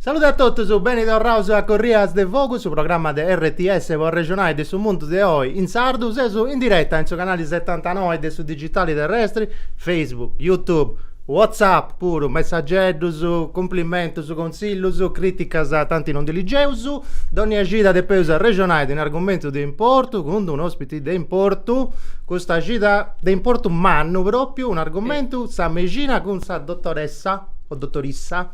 Salude a totus, beni torraus a Corrias de Fogu, su programma de RTS po arrexonai de su mundu de oi in sardu. Seus in diretta in su canali setantanoi de su digitali terrestri, Facebook, YouTube, WhatsApp puru, messageddus, cumplimentus, consillus, criticas tanti non ndi ligeus. Dònnia cida depeus arrexonai de un'argumentu de importu cun d'un'ospiti. de importu custa cida de importu mannu propriu un'argumentu sa mexina cun sa dotoressa o dotorissa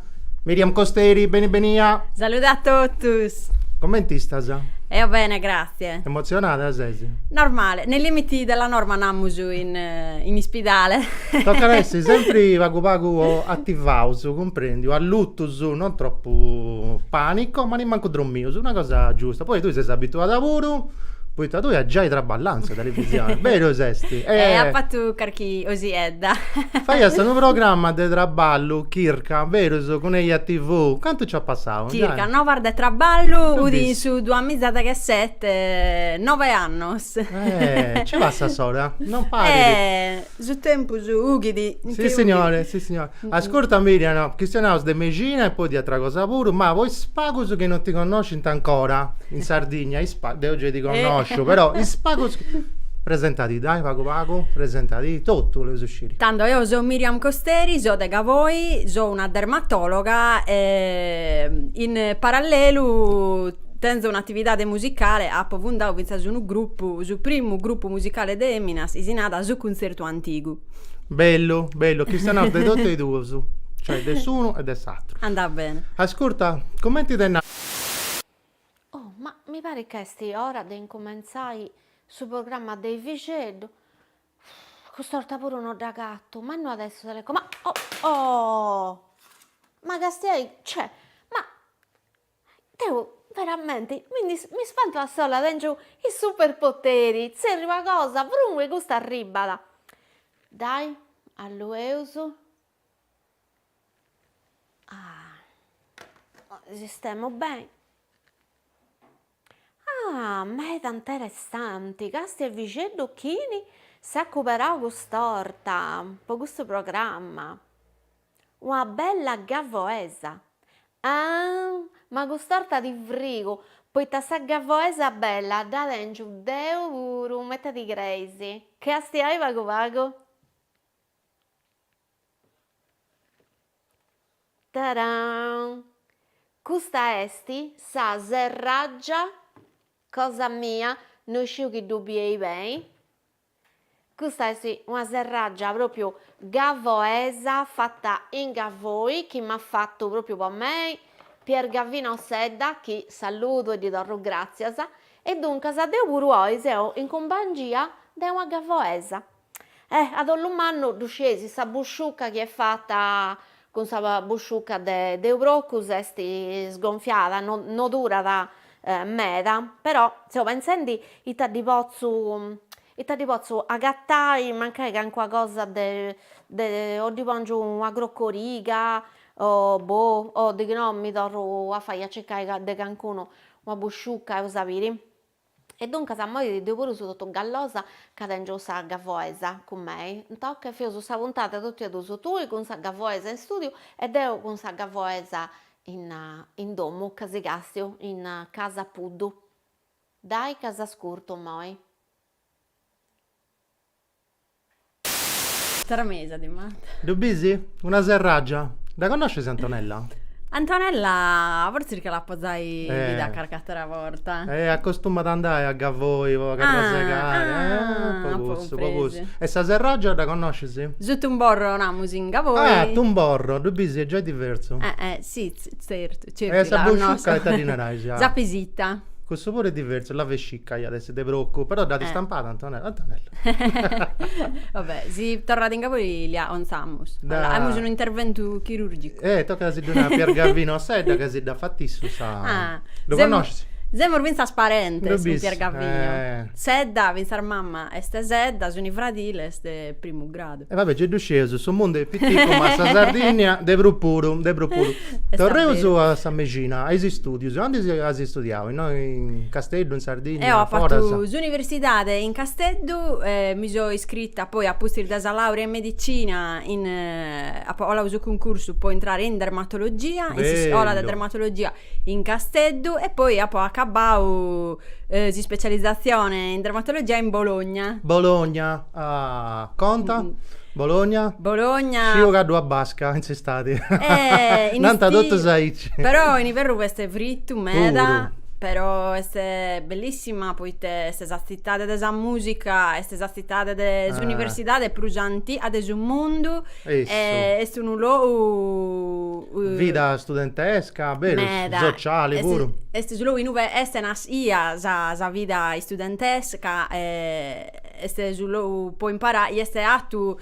Miriam Costeri beni benia. Salude a totus Comenti istas? Eo bene grazie Emotzionada ses? Normale nei limiti della norma namus in ispidale Tocat a essi sempri pagu pagu attivaus cumprendiu allutus non troppu panico ma nemmancu drommius una cosa giusta poi tui ses abituada puru Poita tui as giai traballau in sa televisioni, berus esti? E eh, apo fatu carchi osiedda. Faias unu programma de traballu, chirca, berus, cun Eja TV, cantu nc'at passau? Circa nov'annos de traballu, udi in su duas miza e deghessete, nove annos. Eh, nci passat s'ora, non parit. Eh Su tempus ughit in che. Si signore, si signore. Ascurta Mirian, chistionaus de mexina e poi de atra cosa puru, ma po is pagus chi non ti connoscint ancora, in Sardigna, is pagus, deu gei ti connosciu, però is pagus chi, presentadi dai pagu pagu, presentadi, totu boleus sciri. Tando, eo so Miriam Costeri, so de Gavoi, so una dermatologa e in parallelu Tenzo un'atividade musicale, apo fundau fintzas unu grupu, su primu grupu musicale de eminas, si narat Su Cuntzertu Antigu. Bellu, bellu, chistionaus de totu e duus, cioè de s'unu e de s'atru. Andat bene. Ascurta, cumenti est. Oh, ma mi parit ca est ora de incumentzai su programma de Efixeddu. Cust'orta puru no dd'agatu, ma no at a essi su teleco. Ma, oh, oh! Ma castiai, cioè, ma. Deu veramenti mi ndi mi spantu a solu, tèngiu is superpoteri, tzerriu una cosa, vrum e custa arribbat. Dai alueus sistemu beni, ah meda interessanti, càstia Efixeddu chini s'at cuberau cust'orta po custu programma. Una bella gavoesa! Aah! Ma cust'orta ti frigu, poita sa gavoesa bella dda tèngiu deu puru, ma ita ti creis. Castiai pagu pagu? Taraam! Custa est sa serràgia cosa mia, no isciu chi ddu bieis beni. Custa est una serraggia propriu gavoesa fatta in Gavoi chi m'at fattu propriu po mei Pier Gavinu Sedda chi saludu e ddi torru gràtzias e duncas deu puru oi seu in cumpangia de una gavoesa. Eh, a dolu mannu ddu scieis sa busciucca chi est fatta Cun sa busciuca de unu procu est sgonfiada, no no durat meda, però seu pentzendi ita ddi potzu ita ddi potzu agatai mancai calincuna cosa de de o ddi pòngiu una crocoriga o boh o dighi no mi torru a fai a circai de calincunu una busciuca eus a biri E duncas immoi deu puru seu totu gallosa ca tèngiu sa gavoesa cun mei, tocat chi fatzaus sa puntada totu a duas, tui cun sa gavoesa in stùdiu e deu cun sa gavoesa in in domu ca si càstiu Ignàzia Puddu. Dai ca s'ascurtu immoi. Tramesa ti manda. Ddu bisi? Una serràgia. Dda connoscis Antonella? Antonella fortzis ca l'apo giai bida carch'àtera borta. E acostumat a andai a Gavoi po carrasegare. Ah, po cussu, po cussu. E sa serràgia dda connoscis? Su tumborro namus in Gavoi. Ah, tumborro, ddu bisi, est giai diversu. Eh, eh, si, tzertu. Certu, sa busciucca ita ddi narais? Sa vessica. Cussu puru est diversu, la vescica iat essi de procu, però dd'at istampada Antonella, Antonella. Va bè, si torrat in Gavoi l'acontzamus. Aimus unu interventu chirurgicu. Eh, tocat a si ddu nai a Pier Gavinu Sedda ca si dda fat issu sa. Ah. Ddu connoscis? Semus fintzas parentes cun Pier Gavinu. Semus, eh. Sedda, fintzas mama est Sedda, sunt fradiles de primu grau. mercadu. E va bè, ci ddu sceus, su mundu est piticu ma sa Sardìnnia de prus puru, de prus puru. Torreus a sa mexina, a is istùdius, aundi as studiau, innoi in Casteddu, in Sardìnnia, foras? Eo apo fatu s'universidade in Casteddu, mi so iscrita poi apustis de sa làurea in medicina apo parau su cuncursu po intrare in dermatologia, in s'iscola de dermatologia in Casteddu e poi apo acabau s'ispecializatzione in dermatologia in Bologna. Bologna Ah, conta? Bologna? Bologna. Sciu ca ddui at basca in s'istadi. Eh, in istiu. totus aici. Però in iverru fachet fritu meda, Puru. però est bellissima poite est sa tzitade de sa musica, est sa tzitade de s'universidade prus antiga de su mundu. Essu. E est unu logu Vida studentesca, berus, meda. sociali puru. Est su logu inue est nascia sa sa vida studentesca e Est su logu po imparai est fatu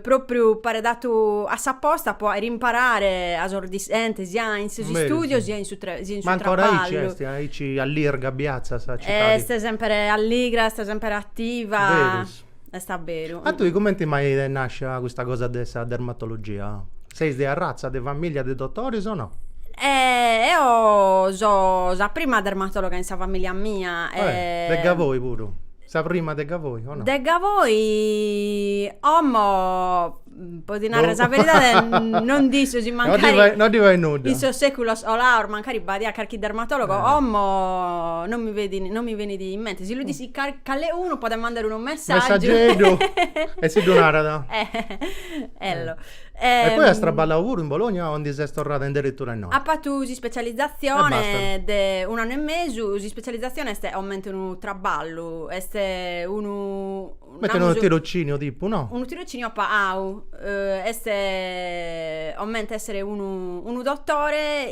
propriu paret fatu a sa posta po aere imparare a sos discentes sia in sos istudios sia in su sia in su traballu. Ma ancora aici est, aici allirga abiatzat sa citadi. Est sempre alligra, est sempre attiva. Verus. Est a beru. A tui cumenti mai t'est nascia custa cosa de sa dermatologia? Seis de arratza de famìllia de dotoris o no? Eo so sa prima dermatologa in sa famìllia mia. De Gavoi puru? Sa prima de Gavoi o no? De Gavoi omo podi narrer sa beridade non d'isso si mancari. No ddi fait nudda. In sos seculos colaos mancari b'aiat carchi dermatologo, omo non mi feti, non mi benit in mente. Si lu d'issit calecunu podet mandare unu messaggiu. Messaggieddu e si ddu narat. Ello E poi as traballau puru in Bologna o ndi ses torrada inderitura innoi? Apu fatu s'ispecializatzione de un'annu e mesu, s'ispecializatzione est comente unu traballu, est unu, Comente unu tirociniu tipu, no? Unu tirociniu pagau, est comente essere unu unu dotore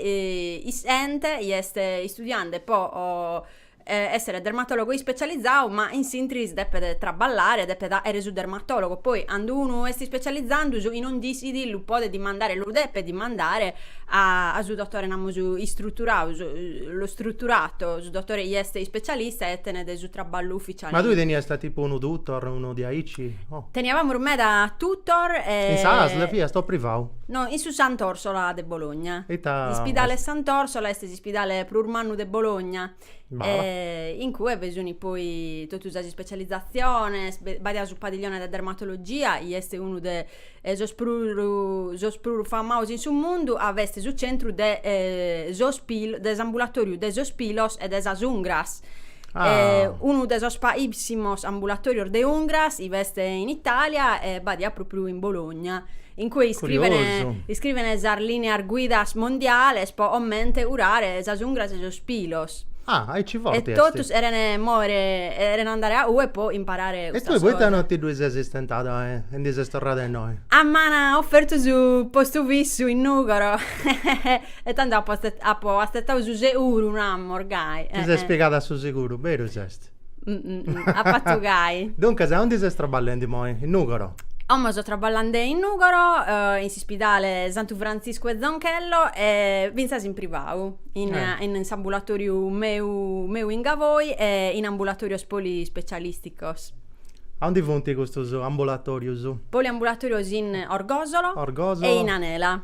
'isente chi est istudiende po essere dermatologo ispecializau ma in s'intris depet traballare depet faere su dermatologo poi cando unu est ispecializandu su chi non d'issit lu podet dimandare lu depet dimandare a a su dotore namus istruturau su lo strutturato su dotore chi est ispecialista e tenet su traballu ufficiale Ma tui teniast tipu unu tutor unu diaici o Teniavamus meda tutor e In sa asl fiast o privau? No in su Sant'Orsola de Bologna Ita Ispidale Sant'Orsola est Ispidale prus mannu de Bologna, in cue bi sunt poi totu sas ispecializaziones, b'aiat su padiglione de dermatologia, chi est unu de sos sos prus famados in su mundu, a b'est su centru de sos pilos, de s'ambulatoriu de sos pilos e de sas ungras, unu de sos paissimus ambulatorios de ungras chi b'est in Italia e b'adiat pròpriu in Bologna in cue iscrivene Curiosu. iscrivene sas lineas guidas mondiales po comente curare sas ungras e sos pilos. Ah, aici forti est. E totus cherene mòere cherene andare a cue po imparare E custas tue poita cosas. no ti ddue ses stentada e e ndi ses torrada innoi? A m'an ofertu su postu fissu in Nugoro e tando apo apo atzetadu su seguru, namus, gai. Ti ses piegada a su seguru, berus est. Apo fatu gai. Duncas, aundi ses traballendi moi? In Nugoro? Como so traballende in Nugoro, eh, in s'ispidale Santu Frantziscu e Zonchello e finzas in privau, in Eh. in s'ambulatoriu meu meu in Gavoi e in ambulatorios polispecialisticos. Aundi funti custus ambulatorius? Poliambulatorios in Orgosolo Orgosolo. e in Anela.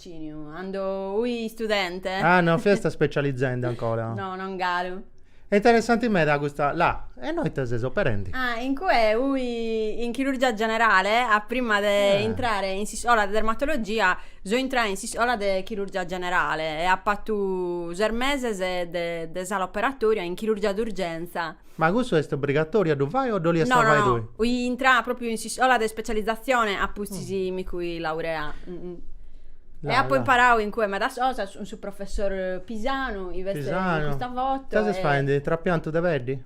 Ciniu, Ando ui istudente? Ah, no fiast specializende ancora? No, non galu. Est interessanti meda custa la. E innoi ite ses operendi? Ah, in cue ui in chirurgia generale a prima de intrare in s'iscola de dermatologia so intrada in s'iscola de chirurgia generale e apo attu ses meses de sala operatoria in chirurgia d'urgenza. Ma cussu est obrigatoriu a ddu fai o dd'oliast No, no, fai no, tui? ui intrada propriu in s'iscola de specializzazione apustis chi mi ui laureada. E apo imparau in cue medas cosas cun su professor Pisanu, chi essit in custa foto. Pisanu, ses faendi trapiantu de peddi?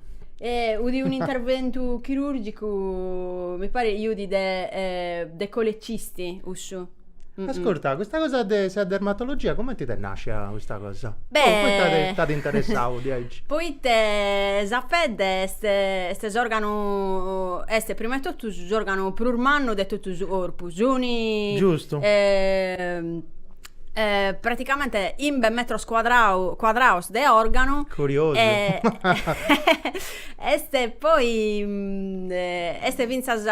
Udit unu interventu chirurgicu, mi paret chi udit de de colecisti cussu. Ascurta, custa cosa de sa dermatologia cumenti t'est nàscia custa cosa? Beh... Poita t'at interessau diaici? Poita sa pedde est est s'òrganu, est prima 'e totu s'òrganu prus mannu de totu su corpu. Suni... Giustu. praticamenti imbe metros cuadra cuadraos de òrganu. Curiosu. E est poi est fintzas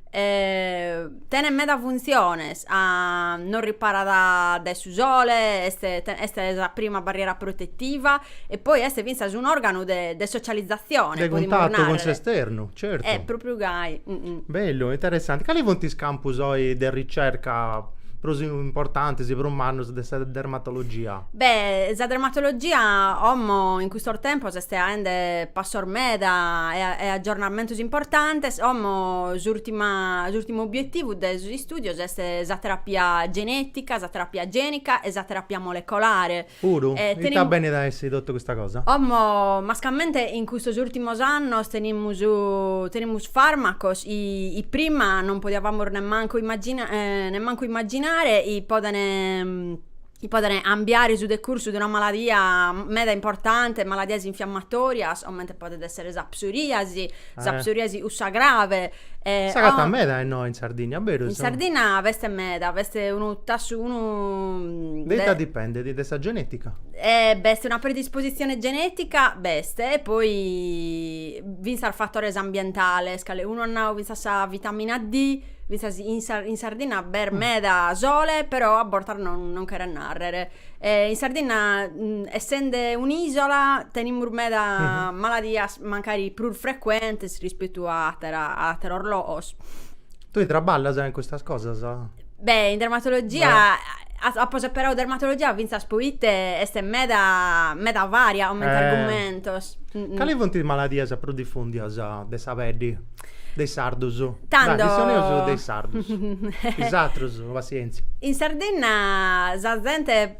E tenet meda funtziones, ca nos riparat dae su sole, est est sa prima barriera protetiva e poi est fintzas un'organu de de socializzazione, de cuntattu cun s'esternu, certu. Eh propriu gai Bellu, interessanti. Cali funt is campus oi de ricerca prus importantis, prus mannus de sa dermatologia? Beh, sa dermatologia como in custos tempos est aende passos meda e aggiornamentos importantes, como s'urtima s'ultimu obiettivu de sos istudios est sa terapia genetica, sa terapia genica e sa terapia molecolare. Puru? E tenim. Ita benit a essi totu custa cosa? Como mascamente in custos ultimos annos tenimus tenimus farmacos chi chi prima non podiavamus nemmancu immagina nemmancu immaginare chi podene chi poden ambiare su decursu de una maladia meda importante, maladias infiammatorias, comente podet essere sa psoriasi, sa eh. psoriasi cussa grave. Eh, S'agatat meda innoi in Sardinna, berus? In Sardinna b'est meda, b'est unu tassu, unu... De ita dipendet? De sa genetica? Eh, b'est una predisposizione genetica, b'est, e poi fintzas fatores ambientales, calecunu at nau fintzas sa vitamina D, Fintzas in, Sa- in Sardinna b'est meda sole, però a bortas non, non cheret nàrrer. Eh, in Sardinna, mm, essende un'ìsola, tenimus meda maladias, magari prus frecuentes rispettu a attera- a atteros logos. Tui traballas in custas cosas? Beh, in dermatologia, a- a- apo seperau dermatologia fintzas poita est meda, meda varia comente argumentos. Cali funt is maladias prus difùndias de sa peddi? De is sardus. Tando. Dai, chistioneus de is sardus. Is atrus, passienzia. In Sardinna sa zente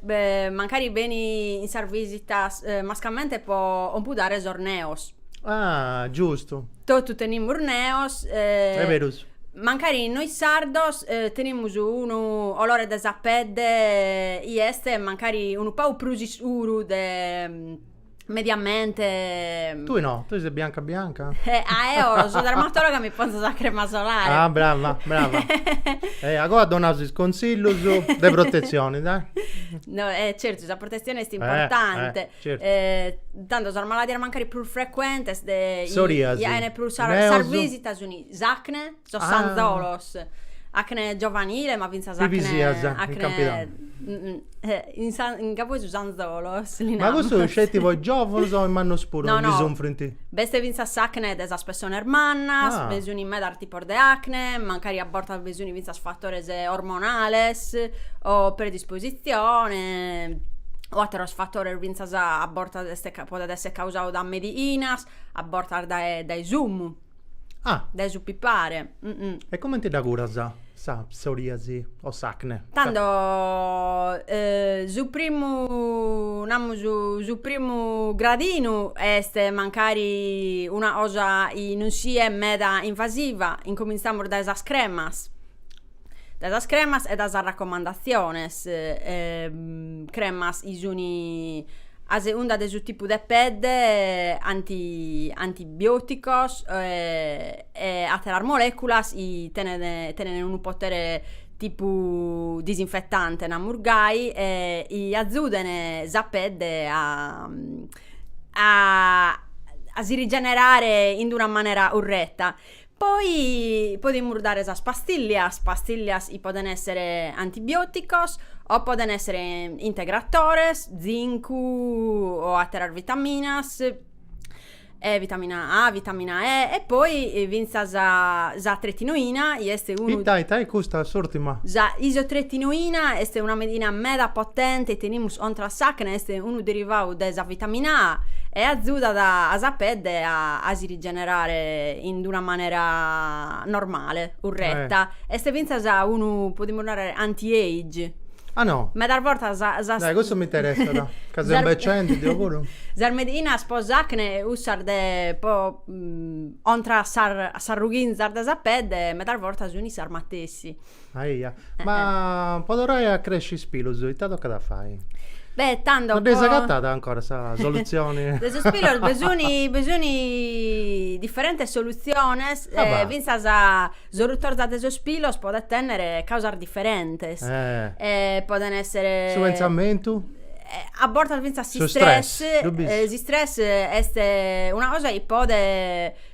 mancari benit in sas visitas mascamente po ompudare sos neos. Ah, giustu. Totu tenimus neos. Est berus. Mancari in nois sardos tenimus unu olore de sa pedde i est mancari unu pagu prus iscuru de mediamente... Tui no, tui ses bianca bianca? Eh, ah, eo so dermatologa mi ponzo sa crema solare. Ah, brava, brava. eh, agoa donaus is consillus de protezioni, dai. No, eh, certu, sa protezione est eh, importante. Eh, certu. Eh, tando sas maladias mancari prus frecuentes de... Soriasi. Iene prus sar, sas visitas suni s'acne. sos sanzolos, acne giovanile, ma fintzas acne... Pipisias, in Campidanu. In sa in campu 'e su sanzolos li namus. Ma cussu sceti po is giovunus o is mannos puru no, no. ndi sunfrint? B'est fintzas s'acne de sas pessones mannas, ah. bi sunt medas tipos de acne, mancari a bortas bi sunt fintzas fatores ormonales o predispositzione o ateros fatores fintzas a bortas e podet esser causau dae mediinas, a bortas dae dae su umu. Ah. Dae su pipare. E comente dda curas sa psoriasi o s'acne? Tando su primu, namus, su primu gradinu est mancari una cosa chi non siat meda invasiva, incominzamus dae sas cremas dae sas cremas e dae sas raccomandatziones cremas chi sun a segunda de su tipu de pedde anti antibioticos e atteras moleculas chi tenent tenent unu potere tipu disinfettante namus gai e chi azzuden sa pedde a a si rigenerare in d'una manera corretta Poi podimus dare sas pastillias, pastillias chi poden essere antibioticos o poden essere integratores, zincu o atteras vitaminas, e vitamina A, vitamina E e poi finzas sa tretinoina chi est unu. Ita ita est custa s'urtima? Sa isotretinoina est una medina meda potente chi tenimus contra a s'acne, est unu derivadu de sa vitamina A e azudat a sa pedde a si generare in d'una manera normale, urreta, est fintzas unu, podimus narrer, anti age. Ah no? Medas bortas sas. Dai cussu m'interessat, ca seu imbecendi deo puru. Sas mediinas pro s'acne e cussas de pro contra a sas rughizas de sa pedde medas bortas sunt sas matessi. Aia, eh, ma eh. po torrai a cresci is pilus, ita tocat a fai? Beh, tando po... Non dd'eis agatada ancora sa solutzioni? De sos pilus bi sun, bi sun diferentes solutziones, e fintzas sa rutorza de sos pilus podent tenner causas diferentes, e poden esser... Su pentzamentu? A bortas fintzas s'istress, s'istress est una cosa chi podet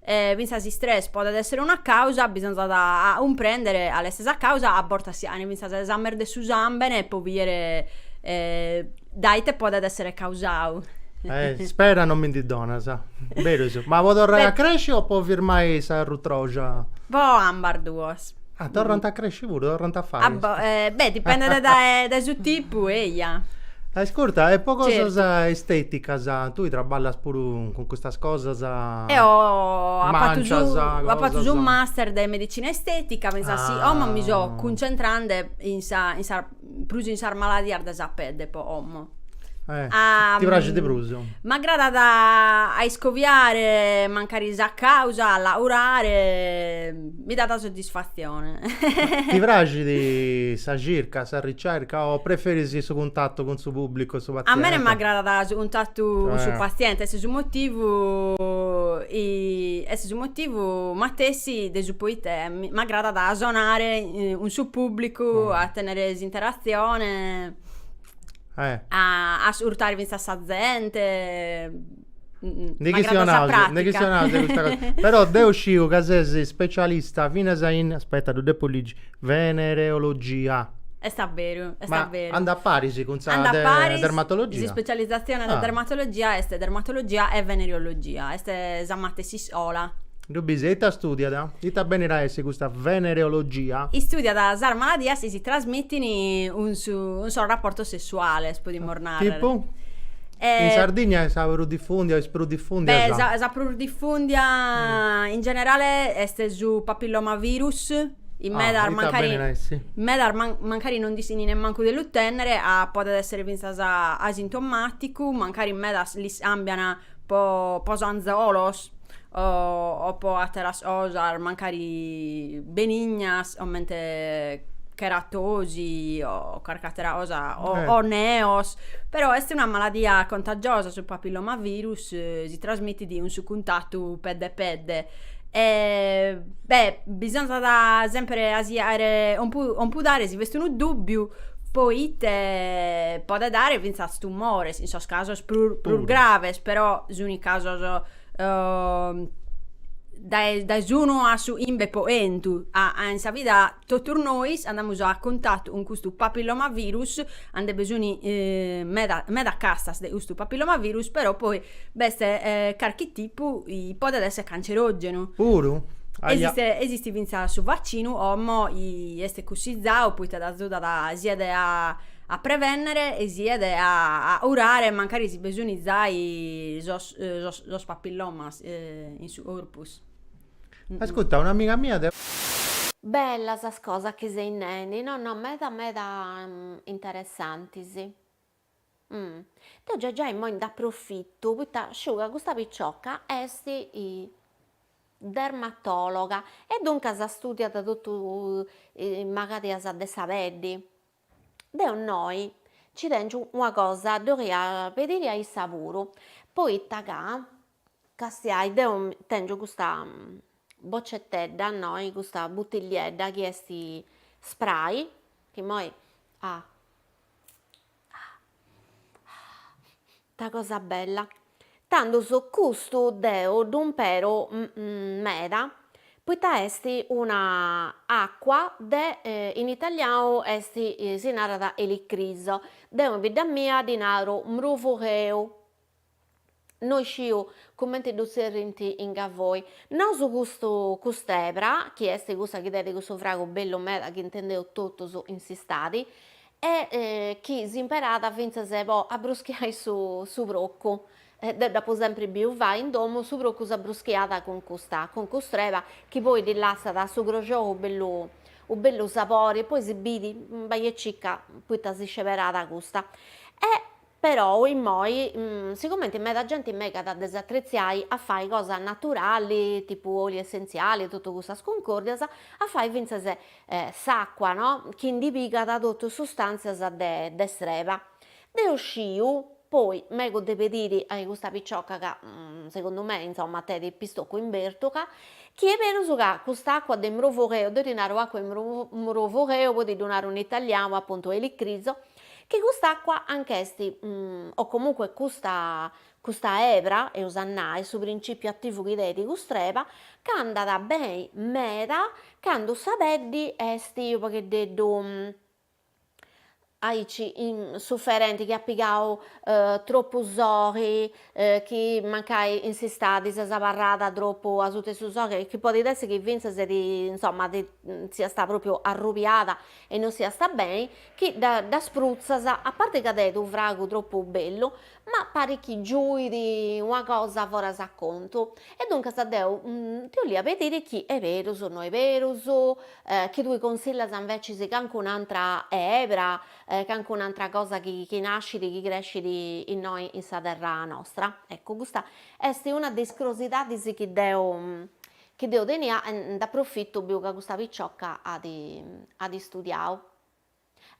E fintzas s'istress podet èssere una càusa, bisonzat a cumprèndere cale est sa càusa, a bortas si ant fintzas esames de su sàmbene pro bìdere dae ite podet èssere causadu. Ispera, non mi ndi donas. Beru is. Ma po torrai a cresci o po firmai sa rutroja? Po ambas duos. Ah, torrant a cresci puru, torrant a fai. beh, dipendet dae dae su tipu, eia. Ascurta, e po cosas esteticas, tui traballas puru cun custas cosas, Eo apo fatu su master, apu fatu su master de medicina estetica, finzas si, como mi so cuncentrande in sa in sa prus in sas maladias de sa pedde po omo. Eh, ti praxit prus? M'agradat a iscoviare mancari sa causa, a laurare, mi dat soddisfatzione. Ti praxit sa circa, sa ricerca o preferis su cuntatu cun su pubblicu, su paziente? A mene m'agradat su cuntatu cun su paziente, est su motivu est su motivu matessi de su poita m'agradat a sonare cun su pubblicu, mm. a tenere s'interazione, eh. a ascurtare finzas sa gente. Mm, de chi si onase, de chi si onase questa cosa. Però deo sciu ca ses specialista finas in, aspetta, ddu depo ligi, venereologia. Est a veru, est a veru. Andat a paris cun sa de, paris, dermatologia. S'ispecializzazione ah. de dermatologia est dermatologia e venereologia, est sa matessi iscola. Ddu bisi e ita studiat? Ita benit a essi custa venereologia? Istudiat sas maladias chi si trasmitin cun sos raportos sessuales, podimus narrer. Tipu? In Sardigna est sa prus difùndia o est prus difùndia sa. Beh, sa prus difùndia in generale est su papillomavirus, in medas mancari. Ah, ita benit a essi? In medas mancari non nd'ischin nemmancu de lu tènnere, podet èssere fintzas asintomàticu, mancari in medas lis càmbian. po po sanzolos o o po atteras cosas mancari benignas comente cheratosi o carchi attera cosa o o neos però est una maladia contagiosa su papillomavirus si trasmittit cun su cuntattu pedde pedde e beh bisonzat sempre a si 'aere compudare si b'est unu dubbiu po ite podet dare fintzas tumores, in sos casos prus, prus graves, però suni casos uh, dae, dae s'unu a su 'imbe po 'entu, a, a in sa vida totus nois andamus a cuntatu cun custu papillomavirus, nde be suni eh, meda, meda castas de custu papillomavirus, però poi B'est carchi tipu chi podet esser cancerògenu. Puru? Aja. Esistit fintzas su vaccinu 'omo 'i est cussizau poita t'azudat siat a prevènnere e siat a curare mancari si be suni zai sos papillomas in su corpus. Ascurta, un'amiga mia de. Bella sas cosas chi seis nendi, no no meda meda interessantis. Umm. Deu già già immoi nd'aprofittu poita sciu ca custa picioca est dermatologa e duncas studiat totu is magadias de sa peddi. Deu innoi nci tengiu una cosa ddi 'oria pediri a issa puru, poita ca Castiai deu tèngiu custa bocetedda innoi custa butilliedda chi est spray chi immoi ah ita cosa bella tandus custu deu ddu imperu meda poita est una acua de in italianu est si narat elicriso deu in bidda mia ddi naru mrufugheu no isciu cumenti ddu tzerrint in Gavoi, nosu custu cust'ebra, chi est cussa chi tenit cussu fragu bellu meda chi intendeus totus in s'istadi, e chi s'imperat fintzas po abbruschiai su su procu, deu dd'apu sempri biu fai in domu, su procu s'abbruschiat cun custa cun cust'reba chi poi ddi lassat su croxou u' bellu u' bellu sapori e poi si biri bai e circa poita si sceberat custa e Perou immoi sigumenti meda genti megat de s'atretziai a fai cosa naturali tipu oli essentziali e totu cussas cuncòrdias, a fai fintzas s'àcua no chi ndi pigat totu sustàntzias de de s'reba. Deu sciu, poi megu de pediri a custa picioca ca segundu mei insomma tenit pistocu in bertuga, chi est berus ca cust'àcua de mrufugheu, deu ddi naru àcua 'e mrufugheu poi ti ddu naru in italianu apuntu elicriso, chi cust'acqua anch'est o comunque custa custa ebra eus a nai su principiu attivu chi tenit cust'reba ch'andat beni meda candu sa peddi est unu pagheddeddu aici suferenti chi at pigau troppu soghi chi mancai in s'istadi ses abarrada troppu asuta 'e su soghi e chi podit essi chi finzas insomma ti siasta propriu arrubiada e non siasta beni chi ddas prutzas, a parte ca t'heit unu fragu tropu bellu, ma parit chi giuit una cosa foras a contu, e duncas deu ti 'olia pedire chi 'e peus o no 'e peus, chi tue consillas invecis cancun'antra ebra, cancun'antra cosa chi chi nascit, chi crescit innoi in sa terra nostra, eccu custa est una de is crosidadis chi deo Chi deu tenia e nd'aprofitu biu ca custa picioca at at istudiau.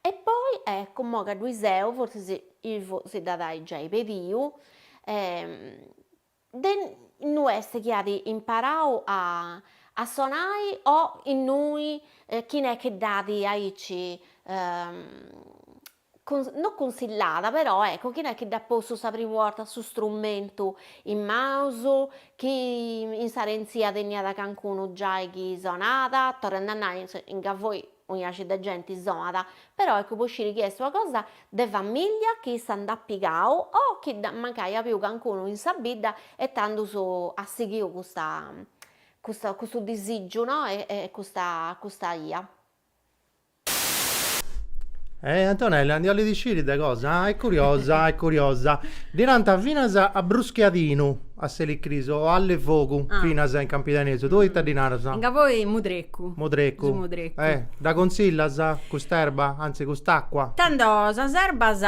E poi, eccu, mo ca ddu 'i seu, fortzis Ivu si dd'at a ai giai pediu, de innui est chi at imparau a a sonai o innui chi n'est chi dd'at aici no cunsillada però ecco chi no est chi dd'at postu sa primu 'orta su strumentu in manos, chi in s'arentzia teniat cancunu giai chi sonat, torrende a nai in Gavoi unu faci de genti sonat, però ecco po sciri chi est una cosa de famiglia chi issa nd'at pigau o chi dd'at mancai apiu cancunu in sa bidda e tandus at sighiu custa custa custu disìgiu no e custa custa 'ia. Eh Antonella, ndi 'olit isciri de cosa? Ah, est curiosa, est curiosa. Ddi nant finas a bruschiadinu a s'elicris o alle fogu finas in campidanesu, tue ita ddi naras? Ca poi mudrecu. Mudrecu. Su mudrecu. Eh, dda consillas cust'erba, anzi cust'acqua? Tando sas erbas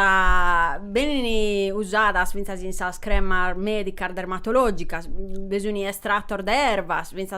benin usadas fintzas in sas cremas medicas dermatologicas, bi sun estratos de erbas fintzas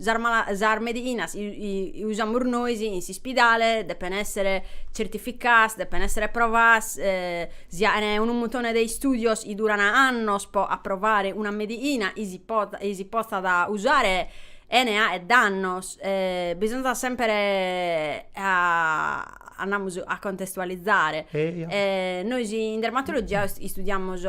Sas mala sas medhinas usamus nois in s'ispidale depen essere certificaas depen essere provaas si 'aen unu muntone de istudios chi duran annos po approvare una medhina chi si pot chi si potzat usare 'ene 'aer dannos bisonzat sempre a andamus a contestualizzare e nois in dermatologia istudiamus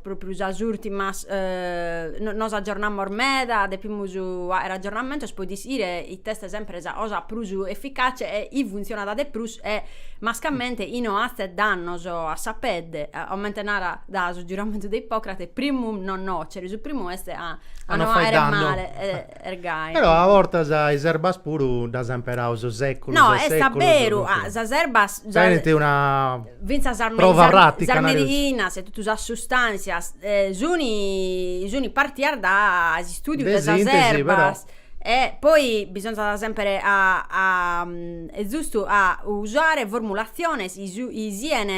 propriu sas urtimas nos aggiornamus meda depimus aer aggiornamentos po ischire ite est sempre sa cosa prus efficace e chi funzionat de prus e mascamente chi no hazet dannos a sa pedde comente narat su giuramentu de Ippocrate primum non nocere su primu est a no 'aer male ergai. Però a bortas is erbas puru ddas ant imperau po seculus e seculus. No, est a beru, sas erbas. Tenint una prova pratica. Sas medicinas e totu sas sustanzias sunt partias dae s'istudiu de sas erbas. E poi bisonzat sempre a e zustu a usare formulatziones chi sian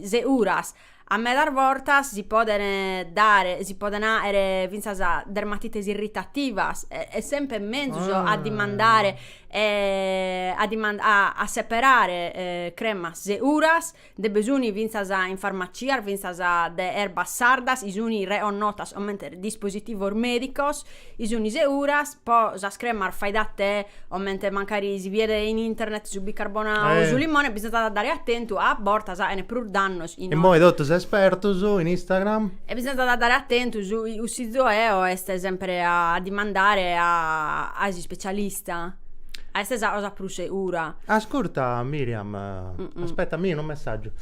seguras A medas bortas si podent dare, si podent àere fintzas dermatites irritativas e est semper menzus a dimandare a dimandare a a seperare cremas seguras, nde bi sun fintzas in farmacias fintzas de erbas sardas, chi sun reconnotas comente dispositivos medicos Chi sunt seguras, po sas cremas fai da te comente mancari si biet in internet su bicarbonau o su limone bisonzat a dare atentu a bortas faghent prus dannos. Immoi totus espertus in Instagram. E bisonzat a dare atentu su cussizu meu est sempre a dimandare a a s'ispecialista, est sa cosa prus segura. Ascurta Miriam aspetta mi unu messaggiu.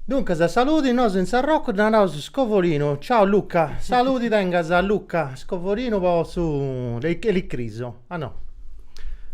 Duncas saludi nosu in Sarrocu dda naraus scovorinu, ciao Luca, saludi tengas a Luca scovorinu po su elicrisu, ah no,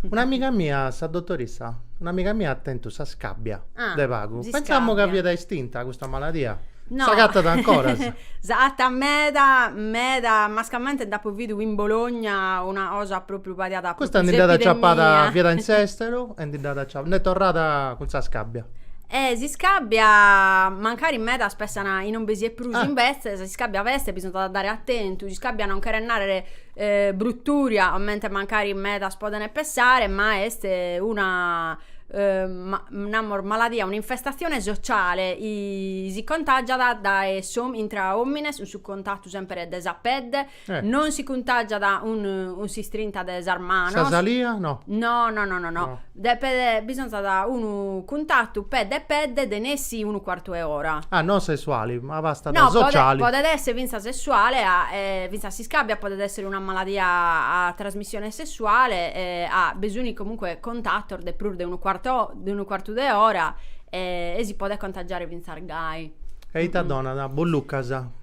un'amiga mia sa dotorissa, un'amiga mia at tentu sa scabbia de pagu, pensamu ca fiat estinta custa maladia, s'agatat ancoras? S'agatat meda meda, mascamente nd'apu bidu in Bologna una cosa propriu pariat propriu s'epidemia. Custa ndi dd'at aciapada, fiat in s'esteru e ndi dd'at aciapada, nd'est torrada cun sa scabbia. E s'iscàbbia, mancari medas pensant chi non bi siat prus Ah. imbetzes, s'iscàbbia b'est e bisonzat a dare atentu, s'iscàbbia non cheret nàrrere brutùria comente mancari medas podent pensare, ma est una namus maladia, un'infestatzione sociale, si contàgiat dae intra òmines cun su contatu semper de sa pedde Non si cuntàgiat cun s'istrinta de sas manos. Sa salia no. No no no no. Depet bisonzat unu cuntatu pedde e pedde de nessi unu cuartu 'e ora. Ah non sessuali, ma bastat no, sociali. No podet esser fintzas sessuale e fintzas s'iscàbia podet esser una maladia a trasmissione sessuale e abbisonzat comunque contatos de prus de unu cuarto de unu cuartu de ora e si podet contagiare fintzas gai. E ita donat? Bollucas?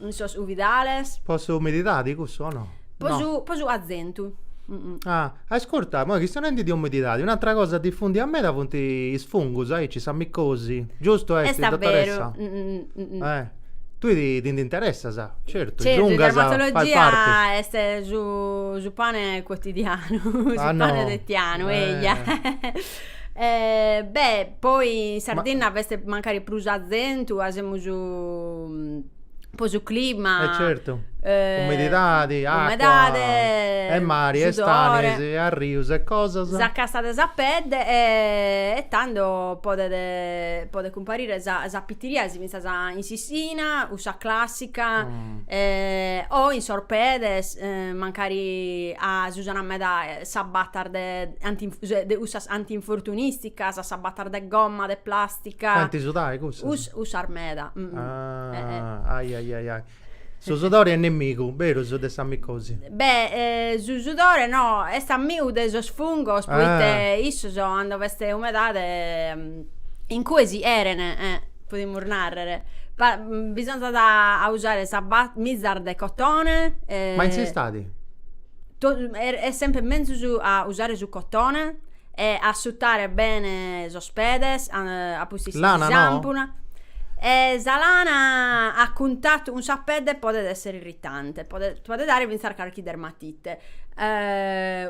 In sos cuvidales. Po sa umididadi cussu o no? Po su po su cazentu. Ah, ascurta, moi chistionendi de umididadi, un'atra cosa difundia meda funt is fungus, aici sa micosi, giustu est dottoressa? Est abberu. Eh. Tui ti ti ndi interessas, certu, is ungas faint parti. Certu, dermatologia est su su pane quotidianu, su pane fitianu, eia. Eh, beh, poi in Sardinna b'est mancari prus cazentu, ca semus po su clima. Eh certu, umididadi, acua. Umedade. E mari e stanis e arrius e cosas. Sa cassa de sa pedde e tando podet podet cumparire sa sa pitiriasi finzas in s'ischina, cussa classica, o in sos pedes, mancari ca s'usana meda Sabatas de anti de cussas anti-infortunisticas, sabatas de gomma, de plastica. Faint sudai cussas? Cussas meda. Ah ai ai ai ai. Su sudori est nemigu, beru, su de sa micosi? Beh su sudore no, est amigu de sos fungos poite issos cando b'est umedade incue si cherent, podimus narrer. Bisonzat a usare sas mizas de cotone. Ma in s'istadi? Est semper menzus a usare su cotone e assutare bene sos pedes a pustis sa sampuna e sa lana a cuntatu cun sa pedde podet essere irritante podet dare finzas carchi dermatite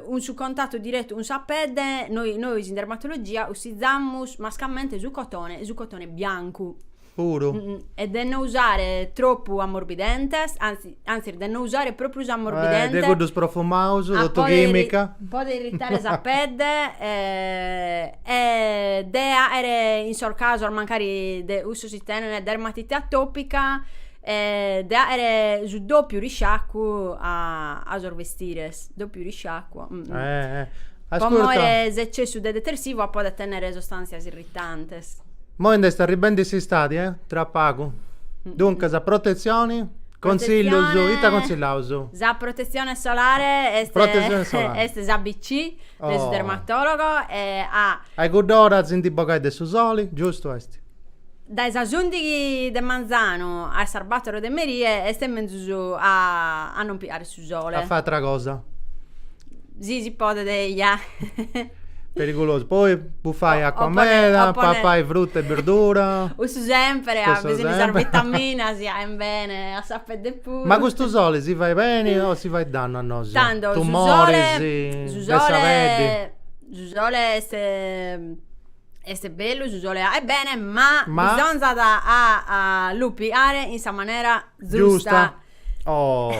cun su contatu direttu cun sa pedde nois in dermatologia cussizamus mascamente su cotone su cotone biancu Puru. E de no usare tropu amorbidentes, anzi, anzis de no usare propriu s'amorbidente. Eh, de cuddus profumaus, totu chimica. Podet irritare sa pedde e de aere in sos casos mancari de cussus chi tenent dermatite atopica de aere su dopiu risciacu a sos vestires, dopiu risciacu. Po more s'eccessu de detersivu ca podet tennere sostàntzias irritantes. Moi nd'est arribendi s'istadi, eh? Tra pagu. Duncas, protetzioni, contzillus, ita contsillaus? Sa protetzione solare est Protetzione solare. est s'ABC de su dermatologo e a. A i cudd'ora si ndi bogai de su soli, giustu est? Dae sas ùndighi de manzanu a sas bàtoro de merie est menzus a a non piare su sole. A fai atra cosa. Si si podet eja. Perigulosu. Poi bufai acua meda, papai fruta e birdura. Cussu sempere, a bessiri de sas vitaminas chi aent bene a sa pedde puru. Ma custu sole si fait beni o si fait dannu a nosu? Tando su sole, su sole, su sole est Est bellu su sole aet bene, ma, ma... bisonzat a, a lu piare in sa manera zusta. Giusta. Oh.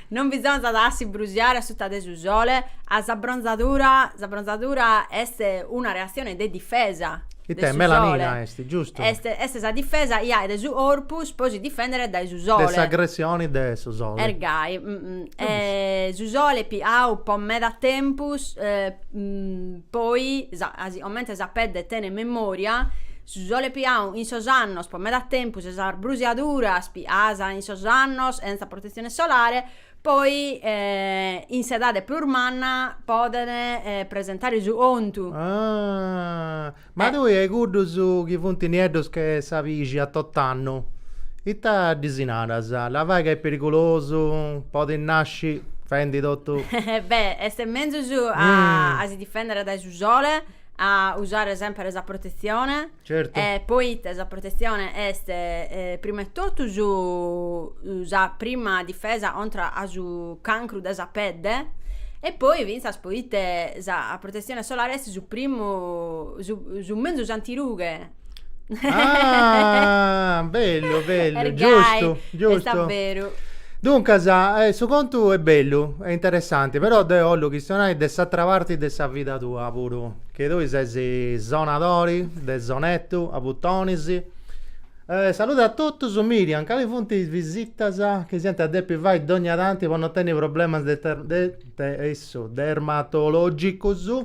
non bisonzat a si brusiare a suta de su sole, a s'abbronzadura, s'abbronzadura est una reazione de difesa. Ite, melanina est, giustu. Est, est sa difesa chi aet su corpus po si difendere dae su sole. De s'agressioni de su sole. Est gai. E su sole piau po meda tempus Poi, comente sa pedde tenet memoria, su sole piau in sos annos po meda tempus e sas brusiaduras piaas in sos annos chentza protezione solare, poi in s'edade prus manna poden presentare su contu. Ahh. Ma tui a cuddus chi funt nieddos che sa pixi a tot'annu, ita ddis naras? Labai ca est perigulosu? Podit nasci fendi totu. Beh, est menzus a si difèndere dae su sole, a usare semper sa protetzione. Certu. E poite sa protetzione est prima 'e totu su, sa prima difesa contra a su cancru de sa pedde e poi fintzas poite sa protetzione solare est su primu su su menzus antirughe. Ah, bellu, bellu, Est gai, giustu, est giustu. a beru. Duncas, eh, su contu est bellu, est interessanti, però deu 'ollu chistionai de s'atra parti de sa vida tua puru, che tui ses sonadori de sonettu a butonis. Saludi a totus, Miriam, cali funt is visitas chi s'iant a depi fai dogna tanti po no tenni problemas dermatologicus?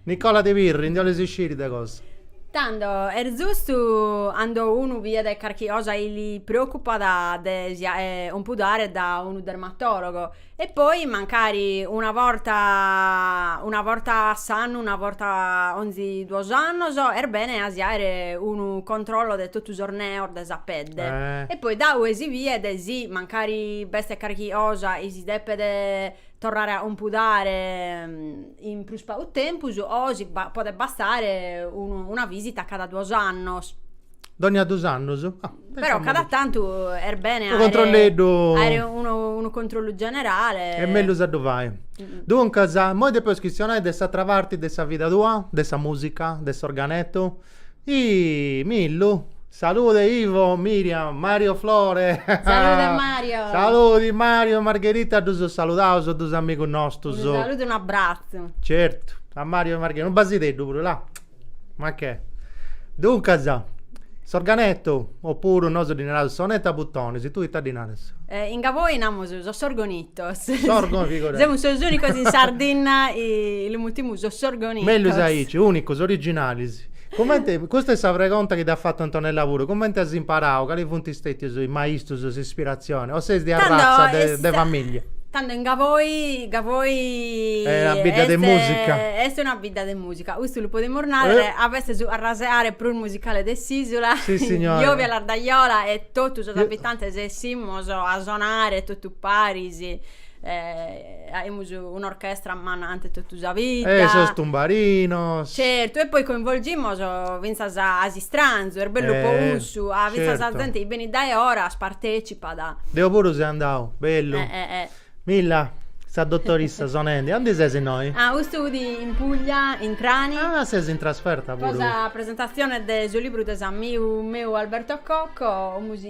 Nicola de Pirri, ndi 'olis isciri de cosa? Tando, est zustu, cando unu bidet carchi cosa chi li preocupat de si 'ompudare da unu dermatologo, e poi mancari una borta una borta a s'annu, una borta 'onzi duos annos, est bene a si 'aere unu controllo de totu sos neos de sa pedde, e poi da ue si biet si mancari b'est carchi cosa chi si depet torrare a 'ompudare. In prus pagu tempus, o si podet bastare una visita cada duos annos. Dogna dus annos? Ah. Però cada tantu est bene 'aere. Unu controlleddu. 'Aere unu controllu generale. Est mellus a ddu fai. Duncas, immoi depeus chistionai de s'atra parti de sa vida tua, de sa musica, de s'organetu. Iih Millu Salude Ivo, Miriam, Mario Flore Salude Mario Saludi Mario e Margherita ddus saludaus, duus amigus nostus. Unu saludu e unu abbratzu. Certu a Mario e Margherita, unu basideddu puru là. Ma che. Duncas s'organettu oppuru nosu ddi naraus sonettu a butonis, tui ita ddi naras? In Gavoi namus su sorgonette. Sorgonette. Semus sos ùnicos in Sardinna, lu mutimus su sorgonette. Mellus aici, ùnicos, originalis. Comente, custa est sa pregonta chi t'at fatu Antonella puru, comente as imparau, cali funt stètius is maistus, s'ispiratzioni, o ses de arratza de de famìllia? Tando in Gavoi, Gavoi Est una bidda de mùsica. Est una bidda de mùsica, custu lu podimus nàrrere, amus su 'arrasehare prus musicale de s'ìsula, Jovia Lardajola e totu sos abitantes 'essimus a sonare totu Paris 'achimus un'orchestra manna in totu sa vidda. E sos tumbarinos. Certu, e poi coinvolgimos fintzas a s'istranzu, est bellu po cussu, ah fintzas sa zente chi benit dae 'oras partecipat. Deo puru seu andau, bellu. Milla, sa dotorissa sonendi, aundi ses innoi? Ah custu fut in Puglia, in Trani. Ah ses in trasferta puru. Pro sa presentazione de su libru de s'amigu meu Alberto Cocco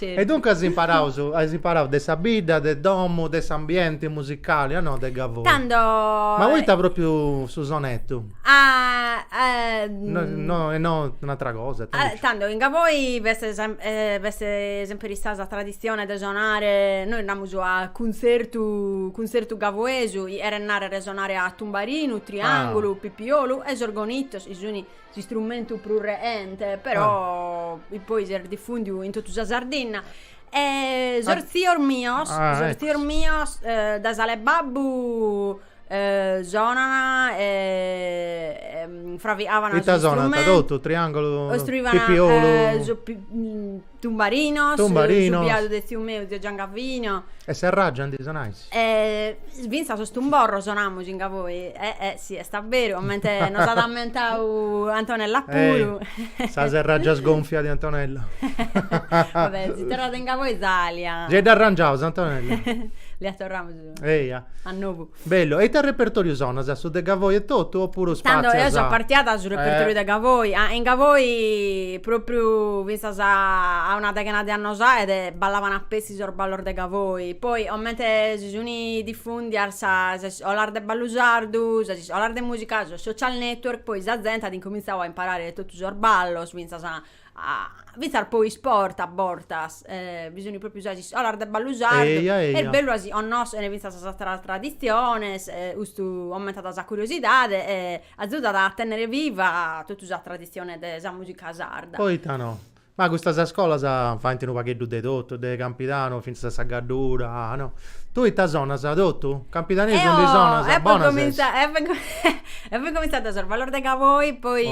E duncas as imparaus, as imparau de sa bidda, de domu, de s'ambienti musicali, a no de Gavoi. Tando. Ma poita propriu su sonetu? No, no, e no un'atra cosa, ita nci. Tando, in Gavoi b'est b'est semper istada sa traditzione de sonare, nois namus a cuntzertu, cuntzertu gavoesu, cheret narrer sonare a tumbarinu, triangulu, pipiolu e sos organitos chi sun. s'istrumentu prus reente, però ah. poi s'est difundiu in totu sa Sardinna. E sos ah. zios mios, ah, sos ecco. zios mios eh, dae s'ala 'e babbu eh, sonana e, e fraviavana Ita sonana totu, triangulu, pipiolu eh, so, pi, mm, Tumbarinos, Tumbarinos. su biadu de tziu meu, zio Giangavino. E serràgia ndi sonais? fintzas sos tumborros namus in Gavoi, eh eh si est a beru, comente nos at ammentau Antonella puru. Sa serràgia sgonfia de Antonella. Va bè, si torrat in Gavoi s'alia. Gei dd'arrangiaus Antonella. Lia torramus Eia. A novu. Bellu. E ite repertoriu sonas? Su de Gavoi e totu o puru spatzias? Tando eo so partia dae su repertoriu de Gavoi. Ah in Gavoi propriu finzas a una deghena de annos aede ballaban pezzi sos ballos de Gavoi. Poi comente si sun diffundias sas iscolas de ballu sardu, sas iscolas de musica, sos social network, poi sa zente at incomintzau a imparare totu sos ballos finzas a fintzas po isport a bortas bi sun propriu sas iscolas de ballu sardu Eia eia. est bellu a si connoscher fintzas sas ateras traditziones e custu aumentat sa curiosidade e azudat a tennere viva totu sa traditzione de sa musica sarda. Poita no. Ma custas scolas faint unu pagheddu de totu, de campidanu fintzas a sa Gaddura, no. Tui ita sonas, totu? Campidanesu ndi sonas? Bonas ses. E fui comintzada sos ballos de Gavoi, poi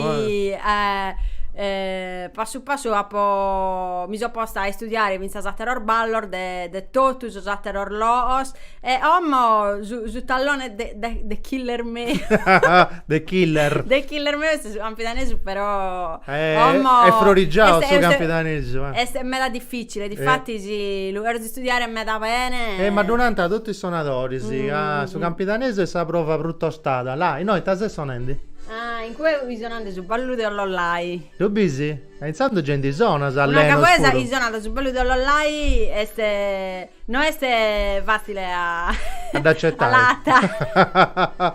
passu passu apo mi so posta a istudiare fintzas atteros ballos de de tottu sos atteros loos e ommo su su tallone de de de killer meu de killer de killer meu est su campidanesu però ommo est frorigianu su campidanesu est meda difficile diffattis lu Studiare meda bene. E ma ddu nant totu is sonadoris ca su campidanesu est sa prova prus tostada. Là, innoi ita ses sonendi? Ah, in cue bi sonant su ballu de Ollolai. Ddu bis? E intzandus gei ndi sonas allenos puru. Una gavoesa chi sonat su ballu de Ollolai est, no est fatzile a. A dd'acetai. A la.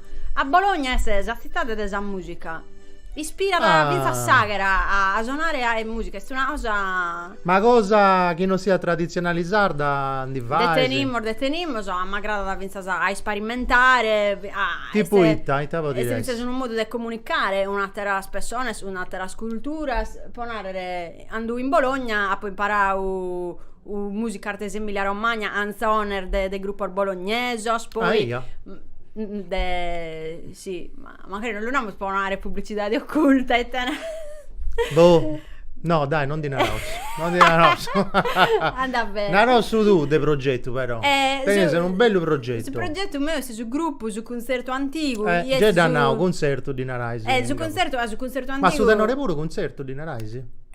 A Bologna est sa tzitade de sa mùsica. Ispirat fintzas s'àghera a sonare mùsica, est una cosa... Ma cosa chi non siat traditzionale sarda ndi fai? De tenimus, de tenimus, a m'agradat fintzas a isparimentare. A, Tipu est, ita, ita podit essi? Est fintzas unu modu de comunicare cun àteras pessonas, cun àteras culturas, po narrer, cando in Bologna apo imparau Musica de s'Emilia Romagna, anzones de de gruppos bolognesos, poi Aia. de si, ma mancari non lu naramus po no aere publicidade occulta e tene Boh, no dai non ndi naraus, non ndi naraus. Andat bene. Naraus su tuu de progetu però. Tenias unu bellu progetu. Su progetu meu est su gruppu Su Cuntzertu Antigu, chi est su Gei dda nau, cuntzertu ddi narais. Eh su cuntzertu, ah su cuntzertu antigu. Ma su tenore puru cuntzertu ddi narais?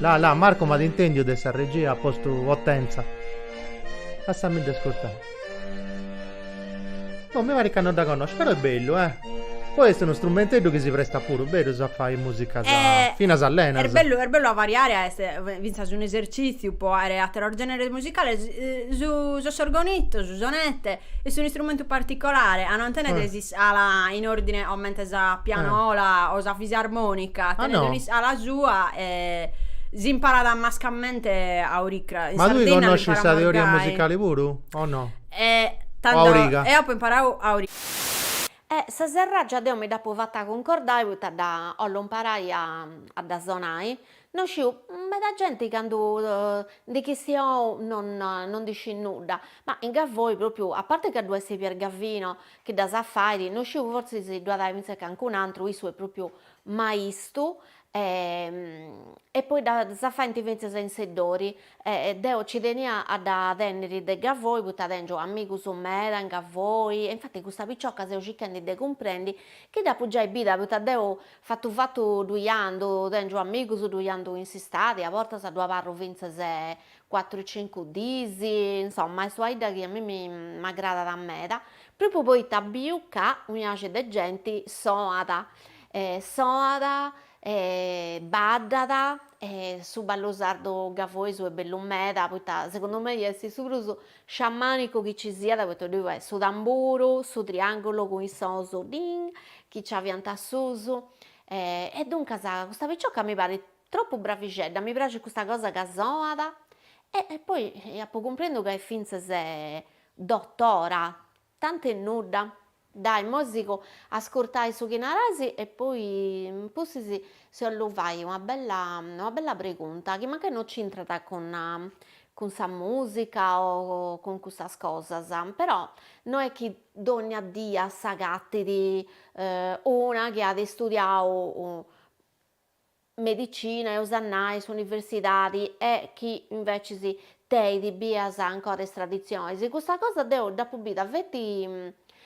La la Marco m'at intèndiu de sa regia postu potentza lassami de scurtai boh mi parit ca no dda connosciu però est bellu eh poi est unu strumenteddu chi si prestat puru berus a fai musicas finas allenas est bellu est bellu a variare est finzas un'esercitziu po aere ateros generes musicales su s'organitto su sonette est un'istrumentu particolare a non tenere S'iscala in ordine comente sa pianola eh. o sa fisarmonica ah, tenet no. un'iscala sua e s'imparat mascamente a oricra. Ma tui connosci sa teoria musicali puru o no? E tando, o a origa? Eo apo imparau a origa. E sa serraggia deo mi dd'apo fata cuncordai poita dda 'ollo imparai a dda sonai No sciu, meda genti candu ndi chistiou non non ndi scit nudda, ma in Gavoi propriu, a parte ca ddu est Pier Gavino chi ddas scit fairi, no sciu fortzis ddu at aer fintzes cancun'antru, issu est propriu maistu e e poi ddas faint fintzes in Seddori e deo nci tenia a dda tenniri de Gavoi poita tengiu amigus meda in Gavoi e infati custa picioca seu circhendi de cumprendi chi dd'apu giai bida poita deu Fatu fatu ddui andu, tengiu amigus ddui andu in s'istadi, a bortas ddu abarru fintzas cuatru cincu diis, insomma est una 'idda chi a mimi m'agradat meda, propriu poita biu ca unu sciacu de genti soat, soat e baddat e su ballu sardu gavoesu est bellu meda, poita segundu mei est su prus Sciamànicu chi ci siat poita ddoi fait su tamburu, su triàngulu cun is sons ding chi nci aviant asusu e duncas custa picioca mi parit tropu bravixedda, mi praxit custa cosa ca soat e poi apu cumprendu ca est fintzas dotora Tant'e nudda. Dai, moi sigu a ascurtai su chi naras e poi in pustis si 'ollu fai una bella una bella pregunta chi mancai no c'intrat cun cun sa mùsica o cun cussas cosas, però no est chi dònnia die s'agatit una chi at istudiau medicina, eus a nai s'universidadi e chi invecis tenit bias ancora is traditzionis, custa cosa deu dd'apu bida feti,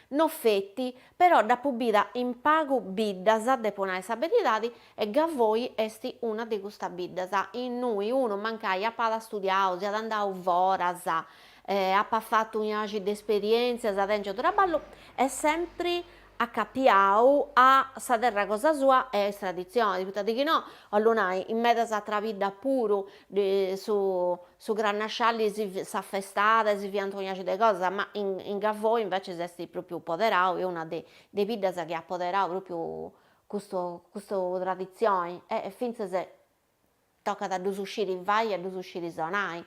no feti, però dd'apu bida in pagu biddas, depu nai sa beridadi, e Gavoi est una de custas biddas, innui unu mancai apat studiau, siat andau foras, apat fatu un'axi de esperientzias tengiu traballu, est sempri acapiau a sa terra cosa sua e a is traditzionis, poita de chi no, 'ollu nai, in medas atras biddas puru su su crannasciali s'afestada e si fiant unu diaci de cosas, ma in in Gavoi invecis est propriu poderau est una de de is biddas chi at poderau propriu custu custu traditzioni e fintzas Tocat a ddus sciri fai e a ddus sciri sonai.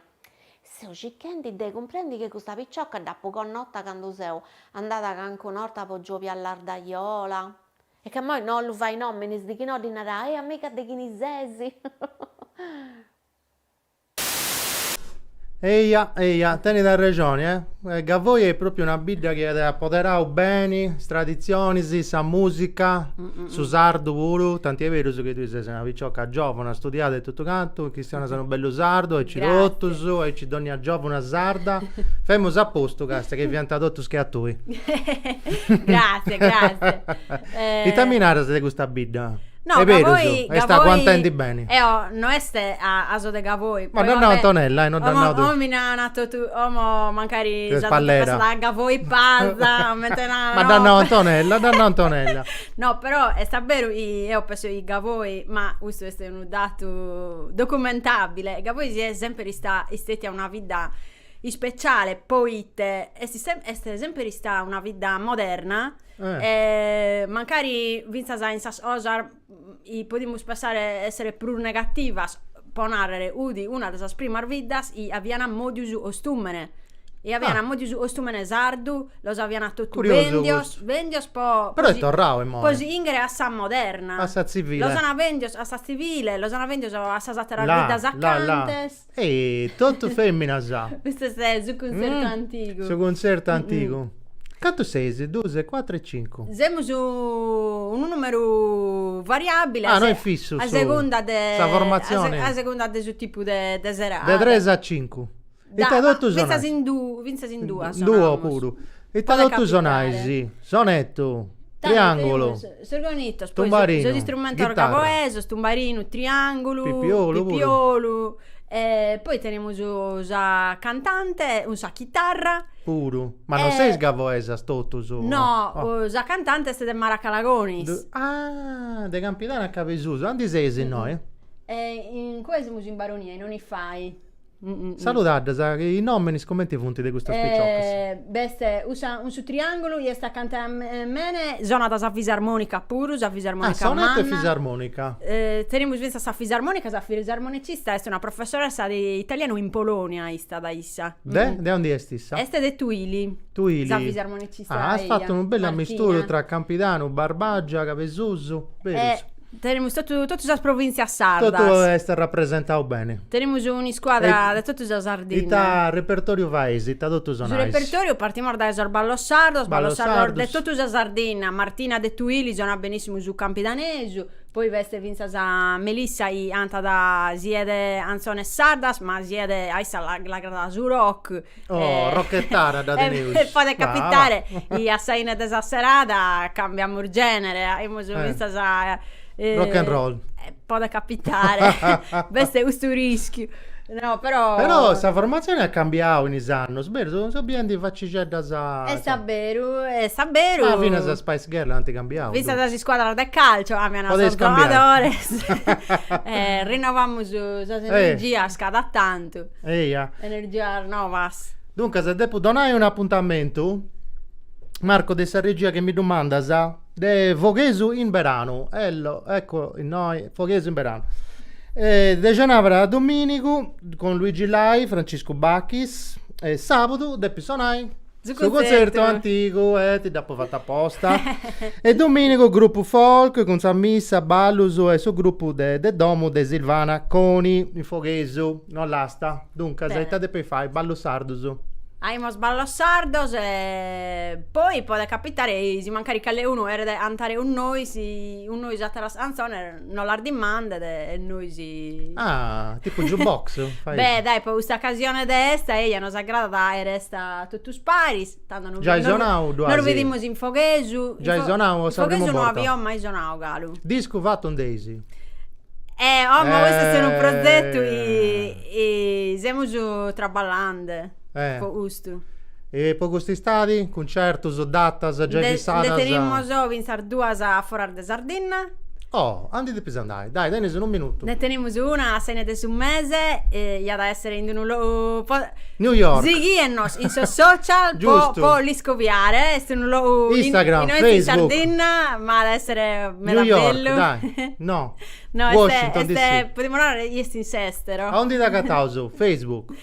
Seu circhendi de cumprendi chi custa picioca dd'apu connota candu seu andada cancuna 'orta po Giòbia Lardajola. Est ca moi no 'ollu fai nòminis de chi no ddi narai, e amiga de chini sesi. Eia, eia, tenit arrexoni, e. Gavoi est pròpiu una bidda chi at apoderau beni is traditzionis, sa mùsica, su sardu puru, tanti est berus chi tui ses una picioca giòvuna, studiada e totu cantu, chistionas unu bellu sardu, aici totus, aici dònnia giòvuna sarda, femus a postu basta chi fiant totus che a tui. Gràssias, gràssias. Ita mi naras de custa bidda? No, Gavoi, Gavoi... Est berus, est a cua intendi beni. Eo, no est ca so de Gavoi. Ma dd'at nau Antonella, eh, no dd'at nau... Omo, mi na, na totu, omo mancari... Ses pallera. A Gavoi Pasa, m'ant nau... Ma dd'at nau Antonella, dd'at nau Antonella. No, però est a beru chi eo penso chi Gavoi, ma custu est unu datu documentabile, Gavoi siat sèmpiri sta, istetia una bidda ispeciale, poite est est sèmpiri istada una bidda moderna, Eh. E mancari fintzas in sas cosas chi podimus pensare essere prus negativas, po narrere, udi una de sas primas biddas chi avian mòdiu su costùmene e avian Ah. mòdiu su costùmene sardu, los avian totu Curiosu bèndios, custu. bèndios po Però po est si- torrau imoi. po si chìnghere a sa moderna. A sa tzivile. Los ana bèndios a sa tzivile, los ana bèndios a sas àteras Là, biddas là, là. acantes Ehi, totu feminas. Custu est su cuntzertu antigu. Su cuntzertu antigu. Cantu seis? Duas, cuatru e cincu. Semus unu numeru variabili. Ah, no est fissu su. A segunda de. Sa formatzioni. A segunda de su tipu de serada. De tres a cincu. Ita totu sonais. Fintzas in dui, fintzas in duas. In duo puru. Ita totu sonais. Sonetu. Triangulu. Sos organitos, poi sos istrumentos gaboesos, tumbarinu, triangulu, pipiolu, e poi tenemus sa cantante cun sa chitarra, puru, ma non seis gaboesas totus, no, sa cantante est de Maracalagonis, ah de Campidanu a Cabesusu, andi seis innoi? E incue semus in Baronia in Onifai. Saludaddas, chi is nominis cumenti funt de custas piciocas? B'est cussa cun su triangulu, chi est acanta a mene, sonat sa fisarmonica puru, sa fisarmonica manna. Ah, sonat fisarmonica. Tenemus fintzas sa fisarmonica, sa fisarmonicista est una professoressa de italianu in Polonia istat issa. De? De ondi est issa? Est de Tuili. Tuili. Sa fisarmonicista eia. Ah, as fatu unu bellu amisturu tra Campidanu, Barbagia, Cabesusu, berus? Tenemus totu totu sas provìntzias sardas. Totu est arrapresentadu beni. Tenemus un'iscuadra de totu sa Sardinna. Ita repertòriu fais? Ita totu sonais? Su repertòriu partimus dae sos ballos sardos, ballos sardos de totu sa Sardinna, Martina de Tuili sonat benìssimu su campidanesu, poi b'est fintzas Melissa chi cantat siat anzones sardas ma siat a issa l'agradat su rock, Oh, rocchettaras dda teneus. E podet capitare, i a sa 'ine de sa serada cambiamus genere, aimus fintzas a. Rock and roll. Podet capitare, b'est custu rischiu. No, però. Però sa formatzione at cambiau in is annus, berus, seu biendi facixeddas. Est a beru, est a beru. Ma finas is Spice Girl ant cambiau. Fintzas is scuadras de calcio cambian sos giogadores. Rinovamus sas energias cada tantu. Eja. Energias novas. Duncas, depu donai un'apuntamentu, Marco, de sa regia chi mi ddu mandas, de Foghesu in beranu, ello, ecco innoi, Foghesu in beranu. De cenàbara a domìnigu cun Luigi Lai, Franciscu Bachis, e sàbudu depis sonai Su contzertu antigu e ti dd'apu fatu aposta. E domìnigu grupu folk cun sa missa, ballus e su grupu de de domu de Silvana Coni. In Foghesu, in Ollasta. Duncas, ita depis fai? Ballus sardus. Aimus ballus sardus e poi podet capitare chi si mancari cale unu cheret antare cun nois, cun nois ateras cantzones. No las dimandet a nois. Ah, tipu jukebox? Beh, dai, po custa ocasione de festa, eja, nos agradat a faer festa totus paris, tando no Giai sonau duas. Nos bidimus in Foghesu. Giai sonau o sa primu borta? In Foghesu no aio mai sonau galu. Discu fatu nd'eis. Eh, oh, ma custu est unu progetu chi semus traballende. po custu. E po cust'istadi? Cuncertus, datas giai fissadas? Nde tenimus fintzas duas a foras de Sardinna. Oh, a ndi depis andai. Dai, tenis unu minutu. Nde tenimus una a s'acabu de su mese, iat a essere in unu logu. New York. Sighienos in sos social po l'iscoviare, est unu logu. Instagram, Facebook. In Sardinna, ma at a essere meda bellu. New York, dai. No. No, est. Washington DC. Podimus narrer chi est in s'estero. A undi dd'agataus? Facebook.